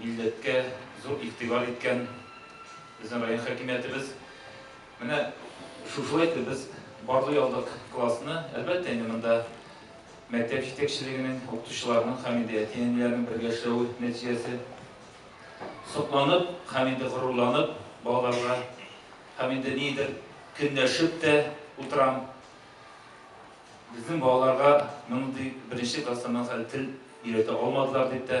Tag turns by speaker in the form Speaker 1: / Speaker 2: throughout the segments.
Speaker 1: Милләткә зур игътибар иткән безнең район хакимиятебез. Менә шушылай итеп без барлый алдык классны. Әлбәттә инде монда мәктәп җитәкчелегенең, укытучыларның һәм инде әти-әниләрнең бергә эшләве нәтиҗәсе. Сокланып һәм инде горурланып балаларга һәм инде нидер көнләшеп тә утырам. Безнең балаларга мондый беренче класстан моннан соң әле тел өйрәтә алмадылар дип тә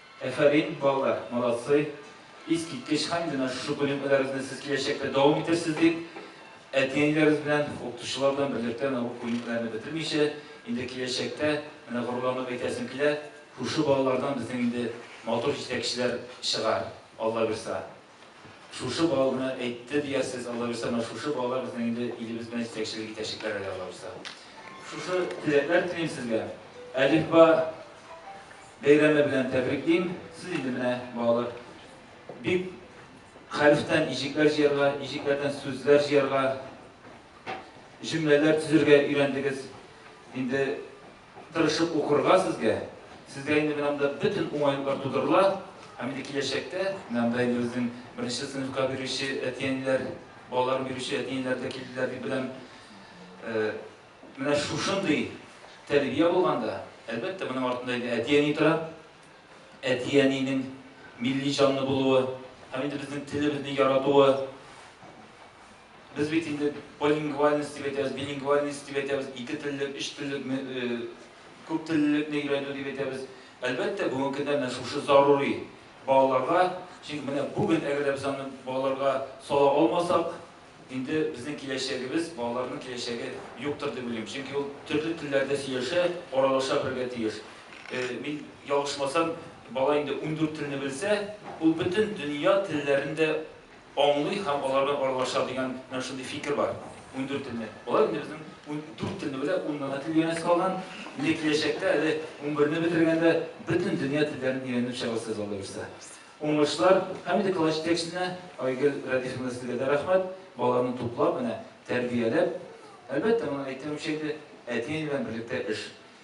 Speaker 1: Әфәрин, балалар, молодцы! Искиткеч хәл, менә шушы күнекмәләрегезне сез киләчәктә дәвам итерсез дип, әти-әниләрегез белән, укытучылар белән берлектә менә бу күнекмәләрне бетермичә, инде киләчәктә, менә горурланып әйтәсем килә, шушы балалардан безнең инде матур җитәкчеләр чыгар, Аллабирса. Шушы балны әйтте диясез, аллабирса, менә шушы балалар безнең инде илебез белән җитәкчелек итәчәкләр әле, аллабирса. Шушы теләкләр телим сезгә. Әлифба бәйрәме белән тәбриклим. Сез инде менә, балалар, бик хәрефтән иҗекләр җыярга, иҗекләрдән сүзләр җыярга, җөмләләр төзергә өйрәндегез. Инде Тырышып укырга сезгә. Сезгә инде менә монда бөтен уңайлыклар тудырыла. Һәм инде киләчәктә менә монда инде безнең беренче сыйныфка бирүче әти-әниләр, балаларын бирүче әти-әниләр дә килделәр дип беләм. Менә шушындый тәрбия булганда, әлбәттә, моның артында инде әти-әни тора. Әти-әнинең милли җанлы булуы һәм инде безнең телебезне яратуы, Без бит инде полилингвальность дип әйтәбез, билингвальность дип әйтәбез, ике теллек, өч теллек, күп теллелекне өйрәнү дип әйтәбез. Әлбәттә, бүгенге көндә менә шушы зарури балаларга, чөнки менә бүген әгәр дә без аны балаларга сала алмасак, инде безнең киләчәгебез, балаларның киләчәге юктыр дип уйлыйм. Чөнки ул төрле телләрдә сөйләшә, аралаша белергә тиеш. Мин ялгышмасам, бала инде ундүрт телне белсә, ул бөтен дөнья телләрен дә аңлый һәм аларга аралаша дигән менә шундый фикер бар. Ундүрт телне. Алар инде безнең ундүрт телне белә, уннан тел өйрәнәсе калган. Инде киләчәктә әле унберне бетергәндә бөтен дөнья телләрен өйрәнеп чыгабыз сез Алла бирсә. Уңышлар һәм инде класс җитәкчесенә Айгөл Рәдифовна сезгә дә рәхмәт. Баланы туплап, менә тәрбияләп. Әлбәттә, моны әйтмәмче инде, әти-әни белән берлектә эш.